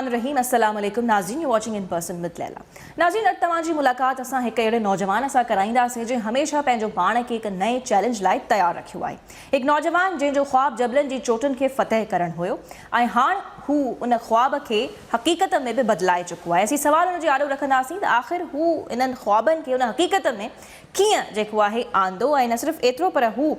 الرحيم السلام عليڪم ناظرين you watching in person with Leela ناظرين اڄ توهان جي ملاقات اسان هڪ اهڙي نوجوان سان ڪرائينداسين جنهن هميشه پنهنجو پاڻ کي هڪ نئين چئلينج لاء تيار رکيو آهي هڪ نوجوان جنهن جو خواب جبلن جي چوٽن کي فتح ڪرڻ هيو ۽ هاڻ هو ان خواب کي حقيقت ۾ به بدلائي چڪو آهي اسين سوال ان جي آڏو رکنداسين ته آخر هو انهن خوابن کي ان حقيقت ۾ ڪيئن جيڪو آهي آندو ۽ نه صرف ايترو پر هو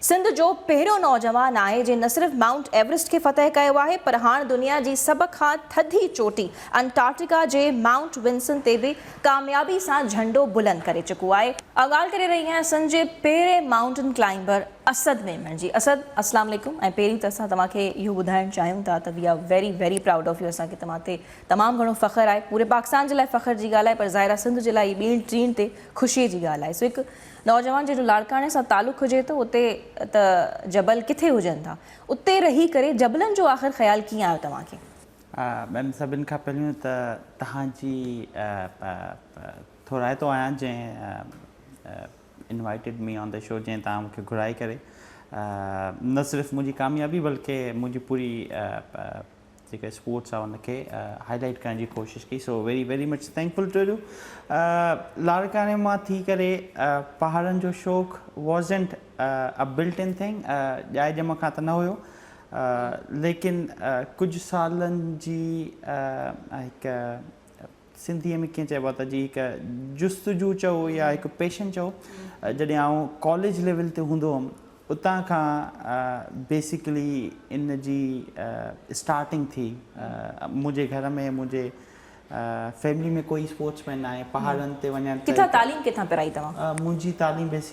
سنڌ جو پهريون نوجوان آهي جنهن نه صرف مائونٽ ايورسٽ کي فتح ڪيو آهي پر هاڻ دنيا جي سڀ کان ٿڌي چوٽي انٽارڪٽيڪا جي مائونٽ ونسن تي به ڪاميابي سان جهنڊو بلند ڪري چڪو آهي. آء ڳالهه ڪري رهي آهيان سنڌ جي پهرين مائونٽن ڪلائمبر اسد ميمڻ جي. اسد اسلام عليڪم ۽ پهرين ته اسان توهان کي اهو ٻڌائڻ چاهيون ٿا ته we are very very proud of you اسان کي توهان تي تمام گهڻو فخر آهي پوري پاڪستان جي لاء فخر جي ڳالهه آهي پر ظاهر آهي سنڌ جي لاء هي ٻيڻ ٽيڻ تي خوشيء جي ڳالهه آهي سو هڪ نوجوان جنهن جو لاڙڪاڻي سان تعلق هجي ٿو اتي ته جبل ڪٿي هجن ٿا اتي رهي ڪري جبلن جو آخر خيال ڪيئن آيو توهان کي؟ ميم سڀن کان پهريون ته توهان جي ٿورائتو آهيان جنهن invited me on the show جنهن توهان مون کي گهرائي ڪري نه صرف منهنجي ڪاميابي بلڪه منهنجي پوري جيڪا اسپورٽس آ ان کي هائي لائيٽ ڪرڻ جي ڪوشش ڪئي so very very much thankful to you لاڙڪاڻي مان ٿي ڪري پهاڙن جو شوق wasn't a built in thing ڄائي ڄم کان ته نه هيو ليڪن ڪجهه سالن جي هڪ سنڌيء ۾ ڪيئن چئبو آهي ته جي هڪ جستجو چئو يا هڪ پيشن چئو جڏهن آئون ڪاليج ليول تي هوندو هئم اتان کان بيسيڪلي ان جي اسٽارٽنگ ٿي منهنجي گهر ۾ منهنجي فيملي ۾ ڪوئي اسپورٽس مين ناهي پهاڙن تي وڃڻ ڪٿان تعليم ڪٿان پرائي توهان؟ منهنجي تعليم بيسيڪلي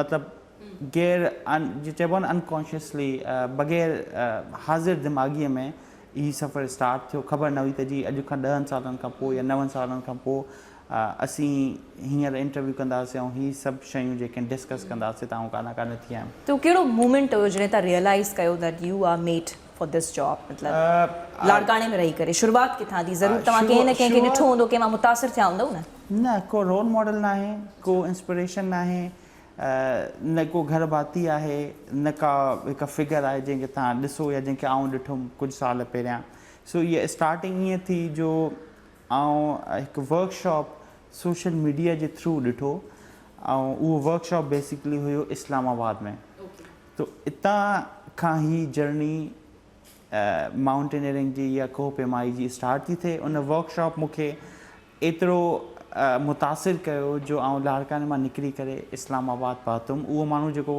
مطلب غير جيئن چئبو آهي نه انڪانشيسلي بغير حاضر دماغيء ۾ هي سفر اسٽارٽ ٿيو خبر نه هئي ته جي اڄ کان ڏهن سالن کان پوء يا نون سالن کان پوء اسين هينئر انٽرويو ڪنداسين ۽ هي سڀ شيون جيڪي ڊسڪس ڪنداسين ته آئون ڪانه ڪانه ٿي آيم. تون ڪهڙو مومينٽ هيو جڏهن تان ريئلائيز ڪيو ته you are made for this job مطلب لاڙڪاڻي ۾ رهي ڪري شروعات ڪٿان ٿي ضرور توهان ڪنهن نه ڪنهن کي ڏٺو هوندو ڪنهن مان متاثر ٿيا هوندؤ نه. نه ڪو رول ماڊل ناهي ڪو انسپريشن ناهي نه ڪو گهر ڀاتي آهي نه ڪا هڪ فگر آهي جنهن کي توهان ڏسو يا جنهن کي آئون ڏٺم ڪجهه سال پهريان سو هيء اسٽارٽنگ ائين ٿي جو آئون هڪ ورڪ شاپ سوشل ميڊيا جي ٿرو ڏٺو ۽ اهو ورڪ شاپ بيسڪلي هيو اسلام آباد ۾ تو اتان کان هي جرني مائونٽينئرنگ جي يا ڪوهه پيمائي جي اسٽارٽ ٿي ٿئي ان ورڪ شاپ مون کي ايترو متاثر ڪيو جو آئون لاڙڪاڻي مان نڪري ڪري اسلام آباد پهتم اهو ماڻهو جيڪو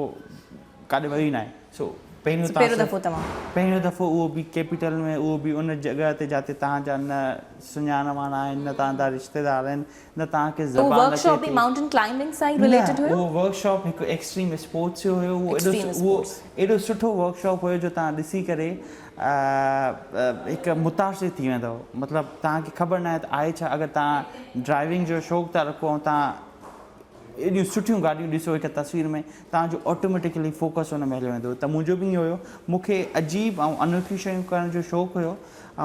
ڪاڏي ويو ئي ناهي سو پهريون پهريون تاثر دفعو توهان پهريون دفعو اهو به ڪيپيٽل ۾ اهو به ان جڳهه تي جاتي تهان جا نه سڃاڻ واڻ آهن نه تهان جا رشتيدار آهن نه تهان کي اهو زبان ورڪ اچي شاپ به ٿي مائونٽن ڪلائمبنگ سان ئي نه رليٽيڊ هيو اهو ورڪ شاپ هڪ ايڪسٽريم اسپورٽس جو هيو اهو ايڏو ايڪسٽريم اهو اسپورٽس ايڏو سٺو ورڪ شاپ هيو جو تهان ڏسي ڪري هڪ متاثر ٿي ويندؤ مطلب توهان کي خبر ناهي ته آهي ڇا اگر توهان ڊرائيونگ جو شوق ٿا رکو ۽ توهان ايڏيون سٺيون گاڏيون ڏسو هڪ تصوير ۾ توهان جو آٽوميٽيڪلي فوڪس ان ۾ هليو ويندو ته منهنجو به ائين هيو مون کي عجيب ۽ انوکيون شيون ڪرڻ جو شوق هيو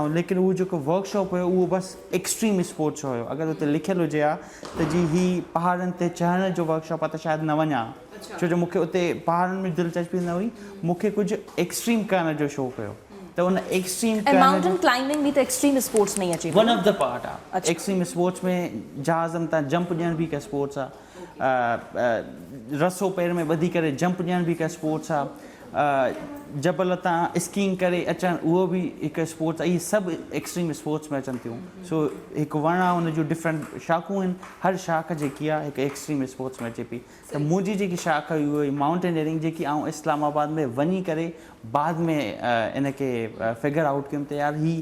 ۽ ليڪن اهو جيڪو ورڪ شاپ هيو اهو بس ايڪسٽريم اسپورٽس جو هيو اگر اتي لکيل هجي ها ته جي هي پهاڙن تي چڙهڻ جو ورڪ شاپ آهي ته شايد نه وڃان ها ڇو جو مون کي اتي پهاڙن ۾ دلچسپي نه هئي، مون کي ڪجهه ايڪسٽريم ڪرڻ جو شوق هيو ته ان ايڪسٽريم ۽ مائونٽن ڪلائمبنگ به ته ايڪسٽريم اسپورٽس ۾ ئي اچي ٿو ون نه؟ آف دي پارٽ آ، اڇا. ايڪسٽريم اسپورٽس ۾ جهازن تان جمپ ڏيڻ به هڪ اسپورٽس آ، رسو پير ۾ ٻڌي ڪري جمپ ڏيڻ به هڪ اسپورٽس آ، جبل تان اسڪينگ ڪري اچڻ اهو به هڪ اسپورٽس آ، اهي سڀ ايڪسٽريم اسپورٽس ۾ اچن ٿيون، سو هڪ وڻ آ ان جون ڊفرنٽ شاخون آهن، هر شاخ جيڪي آ هڪ ايڪسٽريم اسپورٽس ۾ اچي پئي، ته منهنجي جيڪي شاخ هئي اهي مائونٽينئرنگ جيڪي آئون اسلام آباد ۾ وڃي ڪري بعد ۾ ان کي فگر آئوٽ ڪيم ته يار هي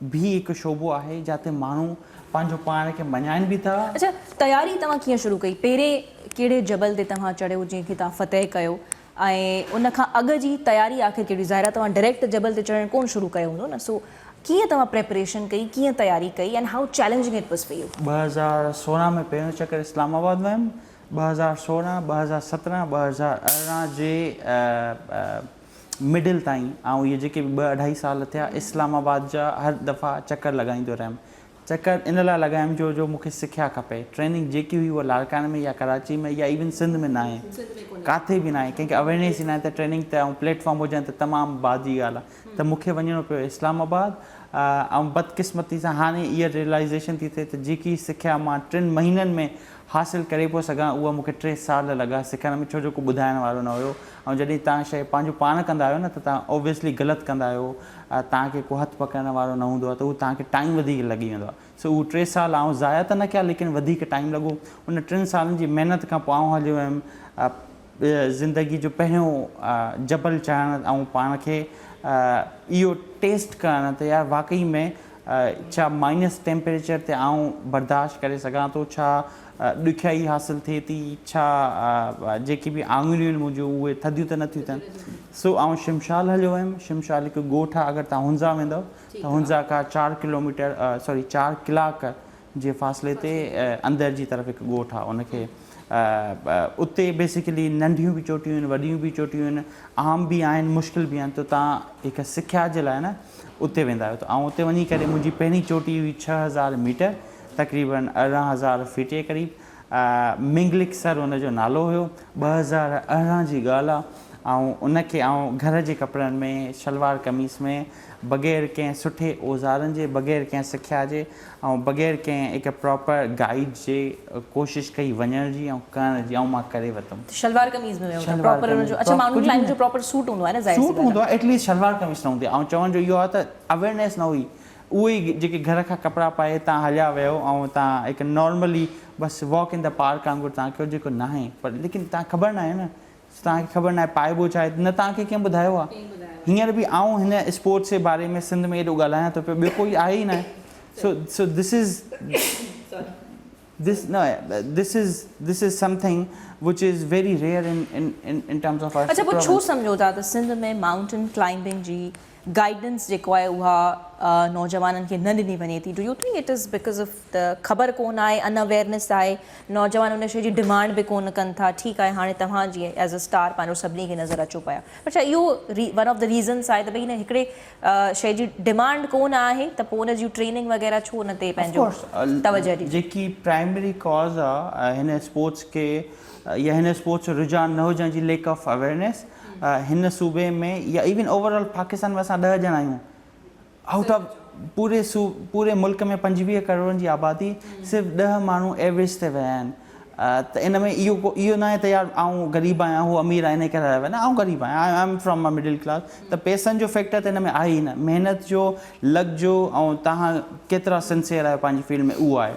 به هڪ شعبو آهي جاتي ماڻهو پنهنجو پاڻ کي مڃائين به ٿا. اڇا تياري توهان ڪيئن شروع ڪئي پهرين ڪهڙي جبل تي توهان چڙهيو جنهن کي توهان فتح ڪيو ۽ ان کان اڳ جي تياري آخر ڪهڙي هئي ظاهر آهي توهان ڊريڪٽ جبل تي چڙهڻ ڪون شروع ڪيو هوندو نه سو ڪيئن توهان پريپريشن ڪئي ڪيئن تياري ڪئي ۽ how challenging it was for you. ٻه هزار سورهن ۾ پهريون چڪر اسلام آباد ويم ٻه هزار سورهن، ٻه هزار سترهن، ٻه هزار ارڙهن جي مڊل تائين آئون اهي جيڪي به ٻه اڍائي سال ٿيا اسلام آباد جا هر دفعا چڪر لڳائيندو رهيم. چڪر ان لاء لڳايم جو جو مونکي سکيا کپي. ٽريننگ جيڪي هئي اها لاڙڪاڻي ۾ يا ڪراچي ۾ يا ايون سنڌ ۾ ناهي. ڪاٿي به ناهي. ڪنهن کي اويرنيس ئي ناهي ته ٽريننگ ته ۽ پليٽ فارم هجڻ ته تمام بعد جي ڳالهه آهي. ته مونکي وڃڻو پيو اسلام آباد ۽ بدقسمتي سان هاڻي اها ريلائيزيشن ٿي ٿئي ته جيڪي سکيا مان ٽن مهينن ۾ حاصل ڪري پيو سگهان اهو مون کي ٽي سال لڳا سکڻ ۾ ڇو جو ڪو ٻڌائڻ وارو نه هيو ۽ جڏهن تهان شيء پنهنجو پاڻ ڪندا آهيو نه ته تهان اوبويسلي غلط ڪندا آهيو تهان کي ڪو هٿ پڪڙڻ وارو نه هوندو آهي ته اهو تهان کي ٽائيم وڌيڪ لڳي ويندو آهي سو اهو ٽي سال آئون ضايع ته نه ڪيا ليڪن وڌيڪ ٽائيم لڳو ان ٽن سالن جي محنت کان پوء آئون هليو ويم زندگي جو پهريون جبل چڙهڻ ۽ پاڻ کي اهو ٽيسٽ ڪرڻ ته يار واقعي ۾ ڇا مائنس ٽيمپريچر تي آئون برداشت ڪري سگهان ٿو، ڇا ڏکيائي حاصل ٿئي ٿي، ڇا جيڪي به آڱريون آهن منهنجون اهي ٿڌيون ته نه ٿيون اٿن. سو آئون شمشال هليو ويم، شمشال هڪ ڳوٺ آهي اگر توهان هنزا ويندؤ ته هنزا کان چار ڪلوميٽر سوري چار ڪلاڪ جي فاصلي تي اندر جي طرف هڪ ڳوٺ آهي ان کي اتي بيسيڪلي ننڍيون به چوٽيون آهن وڏيون به چوٽيون آهن عام به آهن مشڪل به آهن ته تان هڪ سکيا جي لاء نه اتي ويندا آهيو ته آئون اتي وڃي ڪري منهنجي پهرين چوٽي هئي ڇهه هزار ميٽر تقريبن ارڙهن هزار فيٽ جي قريب منگلڪ سر ان جو نالو هيو ٻه هزار ارڙهن جي ڳالهه آهي آئون ان کي آئون گهر جي ڪپڙن ۾ شلوار قميص ۾ بغير ڪنهن سٺي اوزارن جي بغير ڪنهن سکيا جي ۽ بغير ڪنهن هڪ پراپر گائيڊ جي ڪوشش ڪئي وڃڻ جي ۽ ڪرڻ جي ۽ مان ڪري ورتم. ته شلوار قميص ۾ ويو تان شلوار پراپر ان قميص جو اڇا ماڻهن ڪجهه به ڪلائنٽ جو نه پراپر سوٽ هوندو آهي نه ظاهر سي سوٽ ڳالهه هوندو آهي. آهي ايٽ ليسٽ شلوار قميص نه هوندي آهي چوڻ جو اهو آهي ته اويرنيس نه هئي اهو ئي جيڪي گهر کان ڪپڙا پائي تان هليا ويو ۽ تان هڪ نارملي بس واڪ ان دي پارڪ وانگر تان ڪيو جيڪو ناهي پر ليڪن تان کبر ناهي نه سو توهان کي خبر ناهي پائبو ڇا آهي؟ نه توهان کي ڪنهن ٻڌايو آهي؟ هينئر به آئون هن اسپورٽس جي باري ۾ سنڌ ۾ ايڏو ڳالهايان ٿو پيو، ٻيو ڪوئي آهي ئي ناهي. So so this is this no this is this is something which is very rare in in in in terms of our اڇا پوء ڇو سمجهو ٿا ته سنڌ ۾ مائونٽن ڪلائمبنگ جي گائيڊنس جيڪو آهي اها نوجوانن کي نه ڏني وڃي ٿي do you think it is because of ته خبر ڪون آهي ان اويئرنس آهي نوجوان ان شي جي ڊمانڊ به ڪون ڪن ٿا ٺيڪ آهي هاڻي توهان جي ايز اي اسٽار پنهنجو سڀني کي نظر اچو پيا پر ڇا اهو ون آف دا ريزنس آهي ته ڀئي هن هڪڙي شي جي ڊمانڊ ڪون آهي ته پوء ان جون ٽريننگ وغيره ڇو ان تي پنهنجو توجه ڏجي جيڪي پرائمري ڪاز آهي هن اسپورٽس کي يا هن اسپورٽس جو رجحان نه هجڻ جي ليڪ آف اويئرنس هن صوبي ۾ يا ايون اوور آل پاڪستان ۾ اسان ڏهه ڄڻا آهيون آئوٽ آف پوري پوري ملڪ ۾ پنجويهه ڪروڙن جي آبادي صرف ڏهه ماڻهو ايوريج تي ويا آهن ته ان ۾ اهو ڪو اهو ناهي ته يار آئون غريب آهيان هو امير آهي انهي ڪري ويا نه آئون غريب آهيان I am from a middle class ته پيسن جو فيڪٽر ته ان ۾ آهي ئي نه محنت جو لڳ جو ۽ تهان ڪيترا سنسيئر آهيو پنهنجي فيلڊ ۾ اهو آهي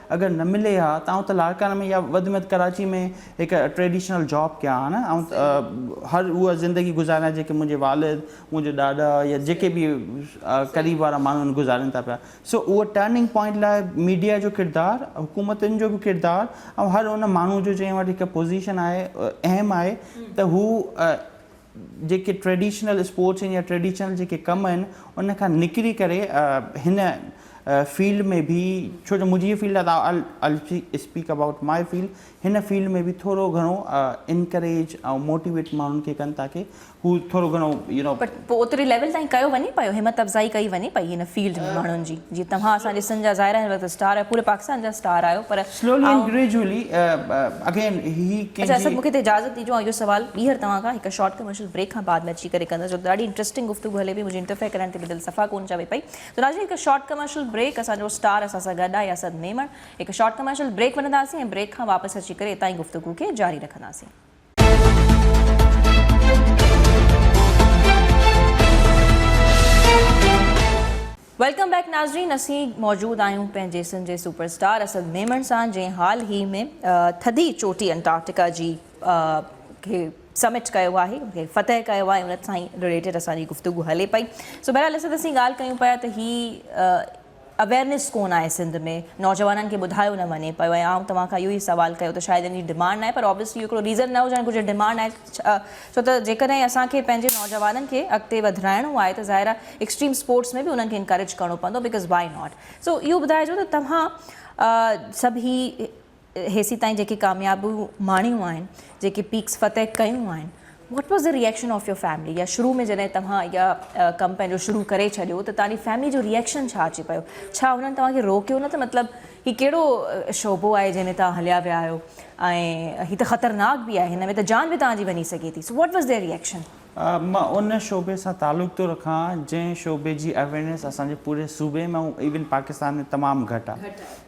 اگر نه ملي ها ته آئون ته لاڙڪاڻي ۾ يا وڌ ۾ وڌ ڪراچي ۾ هڪ ٽريڊيشنل جاب ڪيان ها نه آئون هر اها زندگي گذاريان جيڪي منهنجي والد منهنجو ڏاڏا يا جيڪي به قريب وارا ماڻهو آهن گذارين ٿا پيا سو اهو ٽرننگ پوائنٽ لاء ميڊيا جو ڪردار حڪومتن جو به ڪردار ۽ هر ان ماڻهو جو جنهن وٽ هڪ پوزيشن آهي اهم آهي ته هو جيڪي ٽريڊيشنل اسپورٽس آهن يا ٽريڊيشنل جيڪي ڪم آهن ان کان نڪري ڪري هن فيلڊ ۾ به ڇو جو منهنجي هي فيلڊ آهي I will speak about my field هن فيلڊ ۾ به ٿورو گهڻو انڪريج ۽ موٽيويٽ ماڻهن کي ڪن تاڪي هو ٿورو گهڻو يو نو پر پوء اوتري ليول تائين ڪيو وڃي پيو همت افزائي ڪئي وڃي پئي هن فيلڊ ۾ ماڻهن جي جي توهان اسان جي سنڌ جا ظاهر آهي هن وقت اسٽار آهيو پوري پاڪستان جا اسٽار آهيو پر Slowly and gradually again he can اچا اسد مون کي ته اجازت ڏيجو آئون اهو سوال ٻيهر توهان کان هڪ شارٽ ڪمرشل بريڪ کان بعد ۾ اچي ڪري ڪندس جو ته ڏاڍي انٽرسٽنگ گفتگو هلي پئي منهنجي انٽرفيئر ڪرڻ تي به دل صفا ڪونه چوي پئي ته ناظرين هڪ شارٽ ڪمرشل بريڪ اسان جو اسٽار اسان سان گڏ آهي اسد ميمڻ هڪ شارٽ ڪمرشل بريڪ وٺنداسين ۽ بريڪ کان واپس اچي ڪري اتان ئي گفتگو کي جاري رکنداسين. ويلڪم بيڪ ناظرين اسين موجود آهيون پنهنجي سنڌ جي سپر اسٽار اسد ميمڻ سان جنهن حال هي ۾ ٿڌي چوٽي انٽارڪٽيڪا جي کي سمٽ ڪيو آهي ان کي فتح ڪيو آهي ان سان ريليٽيڊ اسان جي گفتگو هلي پئي سو بهرحال اسد اسين ڳالهه ڪيون پيا ته هي اويرنيس ڪون آهي سنڌ ۾ نوجوانن کي ٻڌايو نه وڃي پيو ۽ آئون توهان کان اهو ئي سوال ڪيو ته شايد ان جي ڊمانڊ ناهي پر اوبيسلي اهو هڪڙو ريزن نه هجڻ گهرجي ڊمانڊ آهي ڇو ته جيڪڏهن اسان کي پنهنجي نوجوانن کي اڳتي وڌرائڻو آهي ته ظاهر آهي ايڪسٽريم اسپورٽس ۾ به انهن کي انڪريج ڪرڻو پوندو بڪاز وائي ناٽ سو اهو ٻڌائجو ته توهان سڀ هي هيسين تائين جيڪي ڪاميابيون ماڻيون آهن جيڪي پيڪس فتح ڪيون آهن what was the reaction of your family يا شروع ۾ جڏهن توهان اها ڪم پنهنجو شروع ڪري ڇڏيو ته توهان جي فيملي جو ريئڪشن ڇا اچي پيو ڇا انهن توهان کي روڪيو نه ته مطلب هي ڪهڙو شعبو آهي جنهن ۾ توهان هليا ويا آهيو ۽ هي ته خطرناڪ به آهي هن ۾ ته جان به توهان جي وڃي سگهي ٿي so what was their reaction. مان ان شعبي سان تعلق ٿو رکان جنهن شعبي جي اويئرنيس اسان جي پوري صوبي ۾ ۽ ايون پاڪستان ۾ تمام گهٽ آهي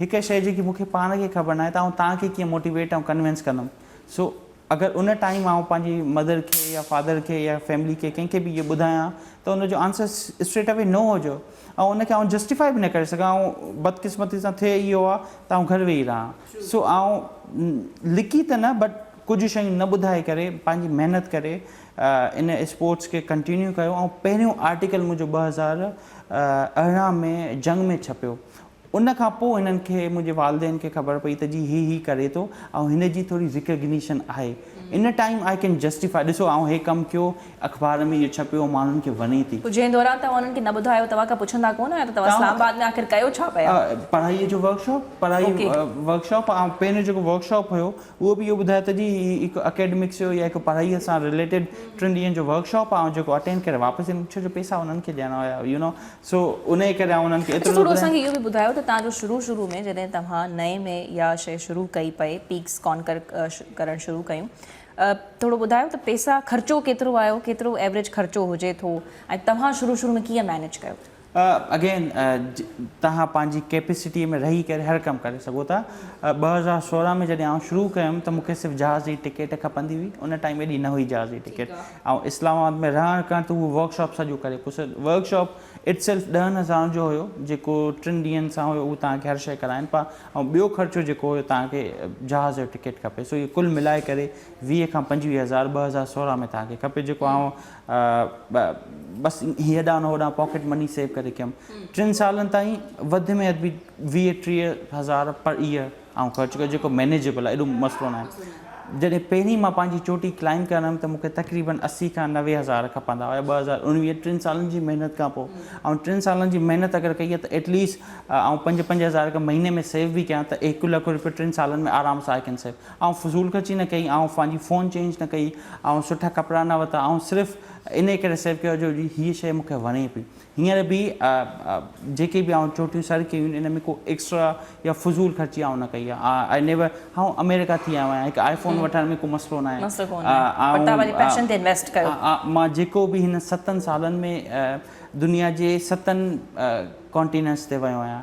هڪ شيء جيڪي مون کي پاڻ کي خبر ناهي ته آئون توهان کي ڪيئن موٽيويٽ ۽ ڪنوينس ڪندم سو اگر ان ٽائيم آئون پنهنجي مدر کي يا فادر کي يا فيملي کي ڪنهن کي به اهو ٻڌايان ته ان جو آنسر اسٽريٽ اوي نو هجو ۽ ان کي آئون جسٽيفائي به نه ڪري سگهان آئون بدقسمتي سان ٿئي اهو آ ته آئون گهر ويهي رهان سو آئون لڪي ته نه بٽ ڪجهه شيون نه ٻڌائي ڪري پنهنجي محنت ڪري ان اسپورٽس کي ڪنٽينيو ڪيو ۽ پهريون آرٽيڪل منهنجو ٻه هزار ارڙهن ۾ جنگ ۾ ڇپيو ان کان پوء هنن کي منهنجي والدين کي خبر پئي ته جي هي هي ڪري ٿو ۽ هن جي ٿوري ريڪگنيشن آهي ان ٽائيم آء ڪين جسٽيفائي ڏسو آئون هي ڪم ڪيو اخبار ۾ اهو ڇپيو ماڻهن کي وڻي ٿي. جنهن دوران توهان انهن کي نه ٻڌايو توهان کان پڇندا ڪونه آهيان ته توهان اسلام آباد ۾ آخر ڪيو ڇا پيا. پڙهائي جو ورڪ شاپ پڙهائي ورڪ شاپ آئون پهريون جيڪو ورڪ شاپ هيو اهو به اهو ٻڌايو ته جي هي هڪ اڪيڊمڪس جو يا هڪ پڙهائي سان رليٽيڊ ٽن ڏينهن جو ورڪ شاپ آئون جيڪو اٽينڊ ڪري واپس ايم ڇو جو پيسا انهن کي ڏيڻا هيا يو نو سو انهيء ڪري آئون انهن کي ايترو اچا ٿو ٿورو اسان ٻڌايان. کي اهو به ٻڌايو ته تان جو شروع شروع ۾ جڏهن توهان نئين ۾ اها شئي شروع ڪئي پئي پيڪس ڪانڪر ڪرڻ شروع ڪيون ٿورو ٻڌايو ته پئسا خرچو ڪيترو آيو ڪيترو ايوريج خرچو هجي ٿو ۽ توهان شروع شروع ۾ ڪيئن مينيج ڪيو ٿو. اگين توهان پنهنجي ڪيپيسٽي ۾ رهي ڪري هر ڪم ڪري سگهو ٿا ٻه هزار سورهن ۾ جڏهن آئون شروع ڪيم ته مون کي صرف جهاز جي ٽڪيٽ کپندي هئي ان ٽائيم ايڏي نه هئي جهاز جي ٽڪيٽ آئون اسلام آباد ۾ رهڻ ڪرڻ تي هو ورڪ شاپ سڄو ڪري پيو سر ورڪ شاپ اٽ سيلف ڏهن هزارن جو هيو جيڪو ٽن ڏينهن سان هيو هو تهان کي هر شيء ڪرائين پيا ۽ ٻيو خرچو جيڪو هيو تهان کي جهاز جو ٽڪيٽ کپي سو اهي ڪل ملائي ڪري ويهه کان پنجويهه هزار ٻه هزار سورهن ۾ تهان کي کپي جيڪو آئون بس هيڏانهن نه هوڏانهن پاڪيٽ مني سيو ڪري ڪيم ٽن سالن تائين وڌ ۾ وڌ به ويهه ٽيهه هزار پر ايئر آئون خرچ ڪيو جيڪو مينيجيبل آهي ايڏو مسئلو ناهي جڏهن پهرين مان پنهنجي چوٽي ڪلائم ڪرڻ ويم ته مونکي تقريبن اسي کان نوي هزار کپندا هيا ٻه هزار اڻويهه ٽن سالن جي محنت کان پوء آئون ٽن سالن جي محنت اگر ڪئي آهي ته ايٽ ليسٽ آئون پنج پنج هزار اگر مهيني ۾ سيو به ڪيان ته هڪ لک روپيو ٽن سالن ۾ آرام سان آئي ڪين سيو آئون فضول خرچي نه ڪئي آئون پنهنجي فون چينج نه ڪئي آئون سٺا ڪپڙا نه ورتا آئون صرف انهي ڪري سيو ڪيو جو هيء شيء مونکي وڻي پئي هينئر به جيڪي به آئون چوٽيون سر ڪيون آهن ان ۾ ڪو ايڪسٽرا يا فضول خرچي آئون نه ڪئي آهي آء نيور آئون آمريڪا ٿي آيو آهيان هڪ آئي فون وٺڻ ۾ ڪو مسئلو نه آهي مان جيڪو به هن ستن سالن ۾ دنيا جي ستن ڪانٽينينٽس تي ويو آهيان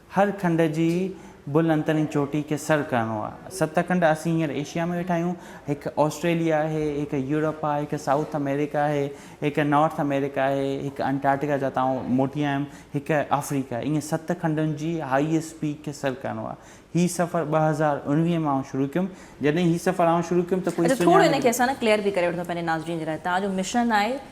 هر کنڊ جي بل انترين چوٽي کي سر ڪرڻو آهي. ست کنڊ اسين هينئر ايشيا ۾ ويٺا آهيون. هڪ آسٽريليا آهي، هڪ يورپ آهي، هڪ سائوٿ آمريڪا آهي، هڪ نارٿ آمريڪا آهي، هڪ انٽارڪٽيڪا جتان آئون موٽي آيم، هڪ آفريڪا آهي. ائين ست کنڊن جي هائيسٽ پيڪ کي سر ڪرڻو آهي. هي سفر ٻه هزار اڻويهه ۾ آئون شروع ڪيم. جڏهن هي سفر آئون شروع ڪيم ته ڪوئي سڃاڻي ئي نه. اچا ٿورو هن کي اسان نا ڪليئر به ڪري وٺون پنهنجي ناظرين جي لاء. توهان جو مشن آهي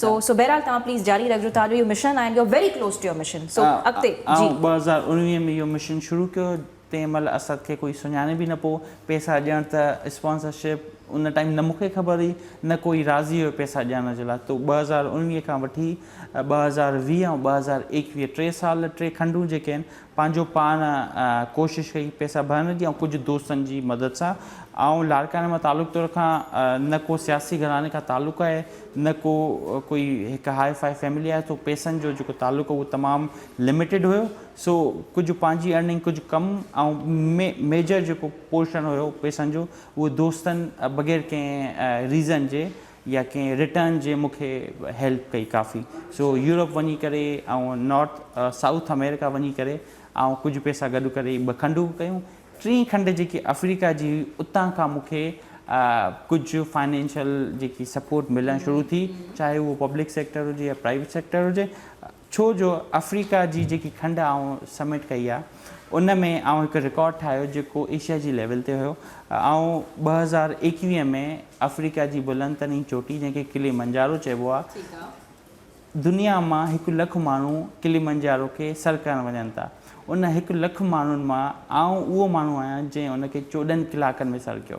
سو سو بهرحال توهان پليز جاري رکجو توهان جو اهو مشن آهي you are very close to your mission so اڳتي جي. آئون ٻه هزار اڻويهه ۾ اهو مشن شروع ڪيو تنهن مهل اسد کي ڪوئي سڃاڻي به نه پئو پئسا ڏيڻ ته اسپانسرشپ ان ٽائيم نه مونکي خبر هئي نه ڪوئي راضي هيو پئسا ڏيڻ جي لاء تو ٻه هزار اڻويهه کان وٺي ٻه هزار ويهه ۽ ٻه هزار ايڪويهه ٽي سال ٽي کنڊون جيڪي آهن پنهنجو پاڻ ڪوشش ڪئي پئسا ڀرڻ جي ۽ ڪجهه دوستن جي مدد سان. آئون لاڙڪاڻي مان تعلق تو رکان، نه ڪو سياسي گهراڻي کان تعلق آهي، نه ڪو ڪوئي هڪ هاء فاء فيملي آهي، سو پئسن جو جيڪو تعلق هو اهو تمام لميٽيڊ هيو، سو ڪجهه پنهنجي ارننگ ڪجهه ڪم ۽ ميجر جيڪو پورشن هيو پئسن جو اهو دوستن بغير ڪنهن ريزن جي يا ڪنهن رٽرن جي مون کي هيلپ ڪئي ڪافي سو يورپ وڃي ڪري آئون نارٿ سائوٿ امريڪا وڃي ڪري آئون ڪجهه پيسا گڏ ڪري ٻه کنڊ ڪيون ٽين کنڊ جيڪي افريڪا جي هئي اتان کان مون کي ڪجهه فائنينشل جيڪي سپورٽ ملڻ شروع ٿي چاهي اهو پبلڪ سيڪٽر هجي يا پرائيويٽ سيڪٽر هجي ڇو جو آفريڪا جي جيڪي کنڊ آئون سبمٽ ڪئي آ ان ۾ آئون هڪ رڪارڊ ٺاهيو جيڪو ايشيا جي ليول تي هيو آئون ٻه هزار ايڪويهه ۾ آفريڪا جي بلند ترين چوٽي جنهن کي ڪلي منجارو چئبو آ دنيا مان هڪ لک ماڻهو ڪلي منجارو کي سر ڪرڻ وڃن ٿا ان هڪ لک ماڻهن مان آئون اهو ماڻهو آهيان جنهن ان کي چوڏهن ڪلاڪن ۾ سر ڪيو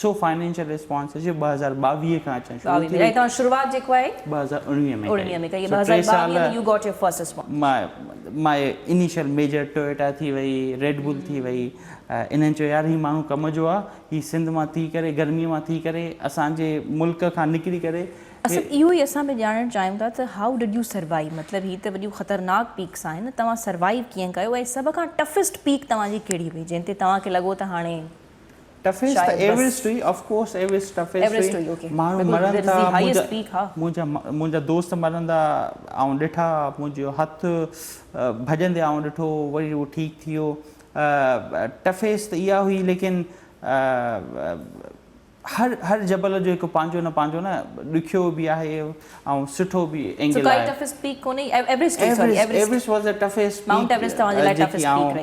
سو فنانشل ريسپانس جي ٻه هزار ٻاويهه کان اچڻ شروع ٿي وئي ۽ توهان شروعات جيڪو آهي ٻه هزار اڻويهه ۾ ڪئي ۾ ڪئي ٻه هزار ٻاويهه ۾ you got your first response my my initial major Toyota ٿي وئي ريڊ بول ٿي وئي انهن چيو يار هي ماڻهو ڪم جو آ هي سنڌ مان ٿي ڪري گرمي مان ٿي ڪري اسان جي ملڪ کان نڪري ڪري اصل اهو ئي اسان به ڄاڻڻ چاهيون ٿا ته هائو ڊڊ يو سروائيو مطلب هي ته وڏيون خطرناڪ پيڪس آهن توهان سروائيو ڪيئن ڪيو ۽ سڀ کان ٽفسٽ پيڪ توهان جي ڪهڙي هئي جنهن تي توهان کي لڳو ته هاڻي ٽفيس ته ايوريسٽ هئي آف ڪورس ايوريسٽ ٽفيس هئي ماڻهو مرن ٿا منهنجا منهنجا دوست مرندا آئون ڏٺا منهنجو هٿ ڀڄندي آئون ڏٺو وري هو ٺيڪ ٿي ويو ٽفيس ته اها هئي ليڪن هر هر جبل جو هڪ پنهنجو نه پنهنجو نه ڏکيو به آهي ۽ سٺو به اينگل آهي ايوريسٽ واز ا ٽفيس پيڪ جيڪي آئون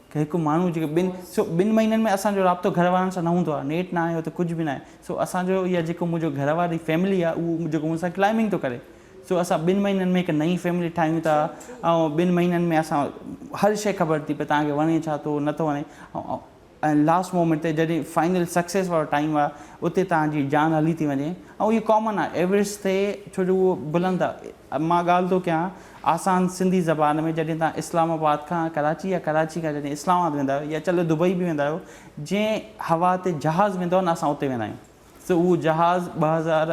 هڪ ماڻهو جيڪو ٻن سو ٻن مهينن ۾ اسان جو رابطو گهر وارن سان نه هوندو آهي نيٽ نه آهي اتي ڪجهه به نه آهي سو اسان جو يا جيڪو منهنجو گهر واري فيملي آهي اهو جيڪو مون سان ڪلائمنگ ٿو ڪري سو اسان ٻن مهينن ۾ هڪ نئين فيملي ٺاهيون ٿا ۽ ٻن مهينن ۾ اسان هر شيء خبر ٿي پئي تان کي وڻي ڇا ٿو نه ٿو وڻي ۽ لاسٽ مومينٽ تي جڏهن فائنل سڪسيس وارو ٽائيم آهي اتي تان جي جان هلي ٿي وڃي ۽ اهو ڪامن آهي ايوريسٽ تي ڇو جو اهو بلند آهي مان ڳالهه ٿو ڪيان آسان سنڌي زبان ۾ جڏهن توهان اسلام آباد کان ڪراچي يا ڪراچي کان جڏهن اسلام آباد ويندا آهيو يا چلو دبئي به ويندا آهيو جنهن هوا تي جهاز ويندو آهي نه اسان اتي ويندا آهيون سو اهو جهاز ٻه هزار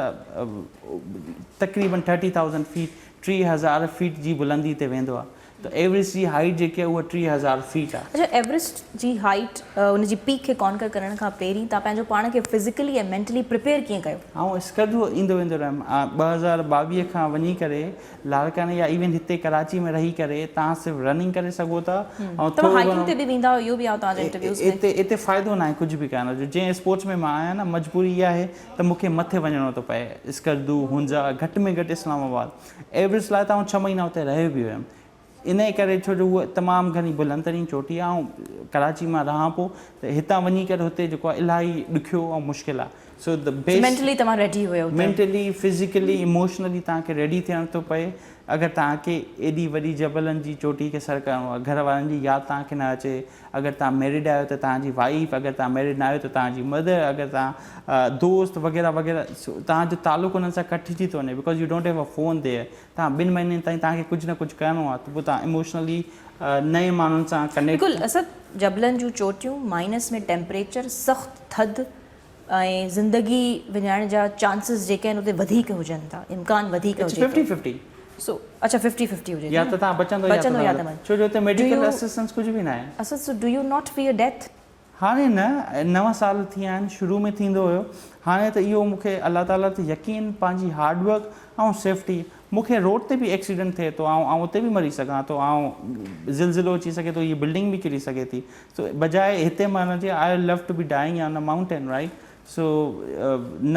تقريبن ٿرٽي ٿائوزنڊ فيٽ ٽي هزار فيٽ جي بلندي تي ويندو آهي ته ايورسٽ جي هائيٽ جيڪي آهي اها ٽيهه هزار فيٽ آهي. اچا ايورسٽ جي هائيٽ ان جي پيڪ کي ڪانڪر ڪرڻ کان پهرين تان پنهنجو پاڻ کي فزيڪلي ۽ مينٽلي پريپيئر ڪيئن ڪيو؟ آئون اسڪردو ايندو ويندو رهيم آء ٻه هزار ٻاويهه کان وڃي ڪري لاڙڪاڻي يا ايون هتي ڪراچي ۾ رهي ڪري تان صرف رننگ ڪري سگهو ٿا آئون توهان هائيڪنگ تي به ويندا اهو به آئون توهان جي انٽرويوز ۾ اتي اتي فائدو ناهي ڪجهه به ڪرڻ جو جنهن اسپورٽس ۾ مان آهيان نه مجبوري اها آهي ته مون کي مٿي وڃڻو ٿو پئي اسڪردو هونزا گهٽ ۾ گهٽ اسلام آباد ايورسٽ لاء ته آئون ڇهه مهينا اتي رهيو به هيم انهي ڪري ڇو جو هوء تمام گهڻي بلند ترين چوٽي آهي آئون ڪراچي مان رهان پيو ته هتان وڃي ڪري هتي جيڪو آهي الاهي ڏکيو ۽ مشڪل آهي so the so best mentally توهان ريڊي هيو ته مينٽلي فزيڪلي اموشنلي توهان کي ريڊي ٿيڻ ٿو پئي اگر توهان کي ايڏي وڏي جبلن جي چوٽي کي سر ڪرڻو آهي گهر وارن جي ياد توهان کي نه اچي اگر توهان ميرڊ آهيو ته توهان جي وائيف، اگر توهان ميرڊ ناهيو ته توهان جي مدر، اگر توهان دوست وغيره وغيره توهان جو تعلق انهن سان ڪٽجي ٿو وڃي because you don't have a phone there توهان ٻن مهينن تائين توهان کي ڪجهه نه ڪجهه ڪرڻو آهي ته پوء توهان اموشنلي نئين ماڻهن سان ڪنيڪٽ ڪل اسد جبلن جون چوٽيون مائنس ۾ ٽيمپريچر سخت ٿڌ ۽ زندگي وڃائڻ جا چانسز جيڪي آهن اتي وڌيڪ هجن ٿا امڪان وڌيڪ هجي ٿو سو اڇا ففٽي ففٽي هجي ٿو نه بچندو يا ته مرندو ڇو جو اتي ميڊيڪل اسسٽنس ڪجهه به ناهي Asad so do you not fear death. هاڻي نه نو سال ٿيا آهن شروع ۾ ٿيندو هيو هاڻي ته اهو مونکي الله تعالي تي يقين پنهنجي هارڊ ورڪ ۽ سيفٽي مونکي روڊ تي به ايڪسيڊنٽ ٿئي ٿو آئون آئون اتي به مري سگهان ٿو آئون زلزلو اچي سگهي ٿو هي بلڊنگ به ڪري سگهي ٿي سو بجاء هتي مان ان جي I love to be dying on a mountain right so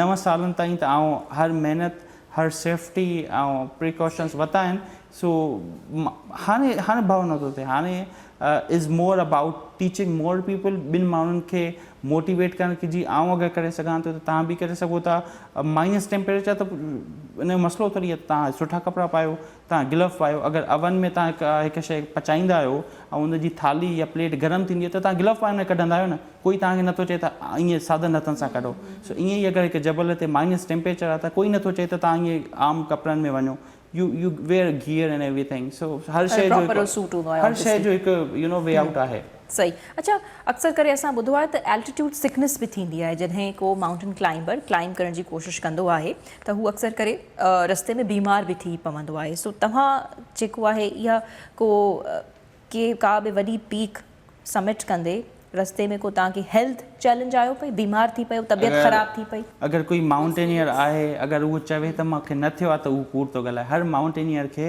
نو سالن تائين ته آئون هر محنت هر سيفٽي آئون پريڪاشنس ورتا آهن سو هاڻي هاڻي ڀؤ نه ٿو ٿئي هاڻي is more about teaching more people ٻين ماڻهن کي موٽيويٽ ڪرڻ ڪي جي آئون اگر ڪري سگهان ٿو ته تهان به ڪري سگهو ٿا مائنس ٽيمپريچر ته ان جو مسئلو ٿوري آهي ته تهان سٺا ڪپڙا پايو تان گلوف پايو اگر اوون ۾ تان هڪ شئي پچائيندا آهيو ۽ ان جي ٿالهي يا پليٽ گرم ٿيندي آهي ته تان گلوف پائي ان کي ڪڍندا آهيو نه ڪوئي تان کي نٿو چئي ته ائين سادن هٿن سان ڪڍو سو ائين ئي اگر هڪ جبل تي مائنس ٽيمپريچر آهي ته ڪوئي نٿو چئي ته تان ائين عام ڪپڙن ۾ وڃو you you wear gear and everything so هر شئي جو هر شئي جو هڪ يو نو وي آئوٽ آهي. صحيح اڇا اڪثر ڪري اسان ٻڌو آهي ته الٽيٽيوڊ سڪنس به ٿيندي آهي جڏهن ڪو مائونٽن ڪلائمبر ڪلائمب ڪرڻ جي ڪوشش ڪندو آهي ته هو اڪثر ڪري رستي ۾ بيمار به ٿي پوندو آهي سو توهان جيڪو آهي اها ڪو ڪي ڪا به وڏي پيڪ سمٽ ڪندي رستي ۾ ڪو توهان کي هيلٿ چئلينج آيو پئي بيمار ٿي پيو طبيعت اگر خراب ٿي پئي. اگر ڪوئي مائونٽينيئر آهي اگر اهو چوي ته مونکي نه ٿيو آهي ته اهو ڪوڙ ٿو ڳالهائي هر مائونٽينيئر کي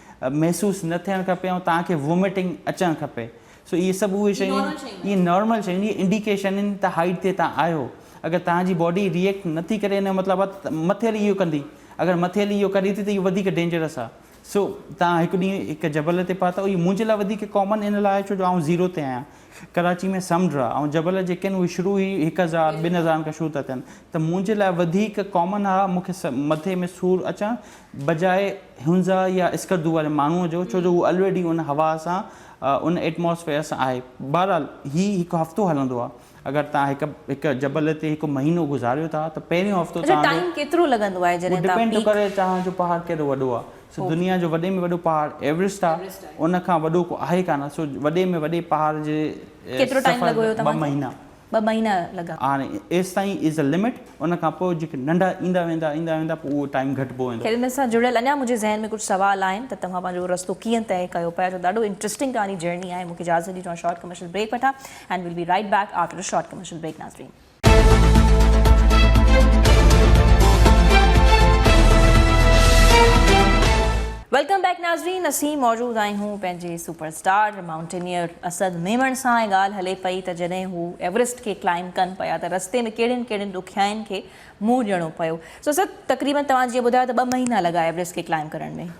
محسوس نه ٿيڻ کپي ۽ توهان کي ووميٽنگ اچڻ کپي سو اهي سڀ اهي شيون آهن اهي نارمل شيون اهي انڊيڪيشن آهن ته هائيٽ تي توهان آهيو اگر توهان جي باڊي ريئيڪٽ نه ٿي ڪري ان جو مطلب آهي ته مٿيل اهو ڪندي اگر مٿيل اهو ڪري ٿي ته اهو وڌيڪ ڊينجرس آهي سو توهان هڪ ڏينهن هڪ جبل تي پهتا اهو منهنجي لاء وڌيڪ ڪامن ان لاء آهي ڇو جو آئون زيرو تي آهيان ڪراچي ۾ سمنڊ آ ۽ جبل جيڪي آهن اهي شروع ئي هڪ هزار ٻن هزارن کان شروع ٿا ٿين ته منهنجي لاء وڌيڪ ڪامن آ مون کي مٿي ۾ سور اچڻ بجاء هنزا يا اسڪردو واري ماڻهوء جو ڇو جو هو الريڊي ان هوا سان ان ائٽماسفيئر سان آهي بهرحال هي هڪ هفتو هلندو آ اگر توهان هڪ هڪ جبل تي هڪ مهينو گذاريو ٿا ته پهريون هفتو اڇا توهان جو ٽائيم ڪيترو لڳندو آهي جڏهن اهو توهان ڊپينڊ ٿو پيڪ ڪري توهان جو پهاڙ ڪيڏو وڏو آ سو دنيا جو وڏي ۾ وڏو پهاڙ ايورسٽ آ ان کان وڏو ڪو آهي ڪانه سو وڏي ۾ وڏي پهاڙ جي سفر ٻه مهينا هاڻي ايستائين از اي لمٽ ان کان پوء جيڪي ننڍا ايندا ويندا ايندا ويندا پوء اهو ٽائيم گهٽبو ويندو. خير ان سان جڙيل اڃا منهنجي ذهن ۾ ڪجهه سوال آهن ته توهان پنهنجو رستو ڪيئن طئي ڪيو پيا جو ڏاڍو انٽرسٽنگ ڪهاڻي جرني آهي مون کي اجازت ڏيجو آء شارٽ ڪمرشل بريڪ وٺان and we'll be right back after a short commercial break ناظرين. ويلڪم بيڪ ناظرين اسين موجود آهيون پنهنجي super star mountaineer Asad Memon سان ۽ ڳالهه هلي پئي ته جڏهن هو ايورسٽ کي ڪلائمب ڪن پيا ته رستي ۾ ڪهڙين ڪهڙين ڏکيائين کي منهن ڏيڻو پيو سو اسد تقريبن توهان جيئن ٻڌايو ته ٻه مهينا لڳا ايورسٽ کي ڪلائمب ڪرڻ ۾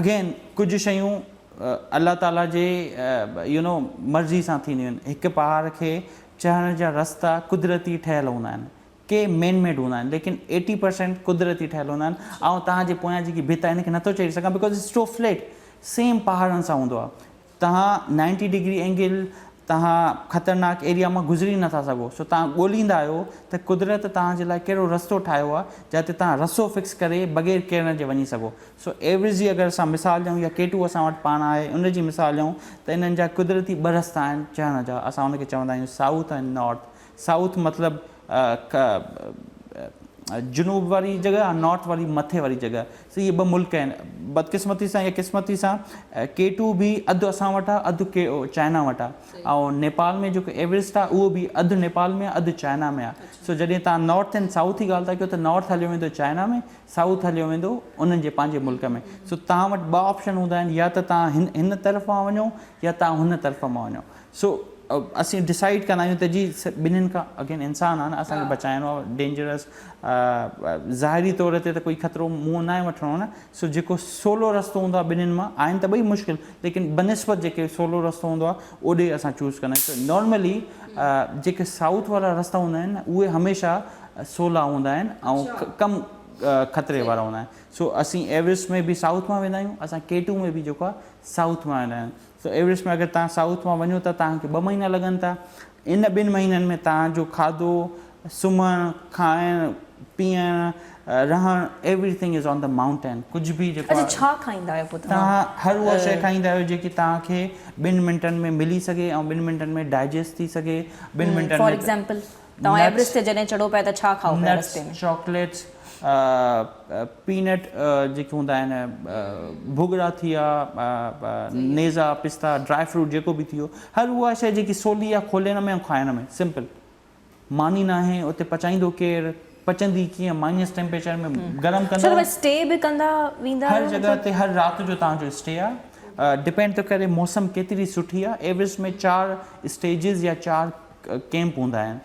اگين ڪجهه شيون الله تعاليٰ جي يو نو مرضي سان ٿينديون آهن هڪ پهاڙ کي چڙهڻ جا رستا قدرتي ٺهيل هوندا آهن ڪي مين ميڊ هوندا آهن ليڪن ايٽي پرسينٽ قدرتي ٺهيل هوندا آهن آئون توهان جي پويان جيڪي ڀت آهي ان کي نٿو چيڙهي سگهان because it's too flat same پهاڙن سان هوندو آهي توهان نائنٽي ڊگري اينگل توهان خطرناڪ ايريا مان گذري نٿا سگهو سو توهان ڳوليندا آهيو ته قدرت توهان جي لاء ڪهڙو رستو ٺاهيو آهي جتي توهان رسو فڪس ڪري بغير ڪيرڻ جي وڃي سگهو سو ايوريزي اگر اسان مثال ڏيون يا ڪي ٽو اسان وٽ پاڻ آهي ان جي مثال ڏيون ته انهن جا قدرتي ٻه رستا آهن چڙهڻ جا اسان ان کي چوندا آهيون سائوٿ ۽ نارٿ سائوٿ مطلب جنوب واري جڳهه ۽ نارٿ واري مٿي واري جڳهه سو اهي ٻه ملڪ آهن بدقسمتي سان يا قسمتي سان ڪي ٽو به اڌ اسان وٽ آهي اڌ چائنا وٽ آهي ۽ نيپال ۾ جيڪو ايوريسٽ آهي اهو به اڌ نيپال ۾ اڌ چائنا ۾ آهي سو جڏهن تان نارٿ اينڊ سائوٿ جي ڳالهه ٿا ڪيو ته نارٿ هليو ويندو چائنا ۾ سائوٿ هليو ويندو انهن جي پنهنجي ملڪ ۾ سو تان وٽ ٻه آپشن هوندا آهن يا ته تان هن طرف مان وڃو يا تان هن طرف مان وڃو سو اسين ڊسائيڊ ڪندا آهيون ته جي ٻنين کان اگين انسان آهي نه اسان کي بچائڻو آهي ڊينجرس ظاهري طور تي ته ڪوئي خطرو منهن ناهي وٺڻو نه سو جيڪو سولو رستو هوندو آهي ٻنين مان آهن ته ٻئي مشڪل ليڪن بنسبت جيڪي سولو رستو هوندو آهي اوڏي اسان چوز ڪندا آهيون ته نارملي جيڪي سائوٿ وارا رستا هوندا آهن نه اهي هميشه سولا هوندا آهن ۽ ڪم خطري وارا هوندا آهن سو اسين ايورسٽ ۾ به سائوٿ مان ويندا آهيون اسان ڪي ٽو ۾ به جيڪو آهي سائوٿ مان ويندا آهيون سو ايورسٽ ۾ اگر توهان سائوٿ مان وڃو ٿا توهان کي ٻه مهينا لڳن ٿا ان ٻن مهينن ۾ توهان جو کاڌو سمهڻ کائڻ پيئڻ رهڻ everything is on the mountain ڪجهه به جيڪو اچا ڇا کائيندا آهيو پوء توهان توهان هر اها شي کائيندا آهيو جيڪي توهان کي ٻن منٽن ۾ ملي سگهي ۽ ٻن منٽن ۾ ڊائجسٽ ٿي سگهي ٻن منٽن فار ۾ ايگزامپل توهان ايوريسٽ تي جڏهن چڙهو پيا ته ڇا کائو پيا رستي ۾؟ نٽس، چاڪليٽس، پينٽ جيڪي هوندا آهن، ڀوڳڙا ٿي ويا، نيزا، پستا، ڊرائي فروٽ جيڪو به ٿي ويو، هر اها شيء جيڪي سولي آهي کولڻ ۾ ۽ کائڻ ۾، سمپل. ماني ناهي، اتي پچائيندو ڪير، پچندي ڪيئن، مائنس ٽيمپريچر ۾ گرم ڪندو. سر اوهان اسٽي به ڪندا ويندا آهيو؟ هر جڳهه تي هر رات جو توهان جو اسٽي آهي. ڊپينڊ ٿو ڪري موسم ڪيتري سٺي آهي. ايوريسٽ ۾ چار اسٽيجز يا چار. ڪئمپ هوندا آهن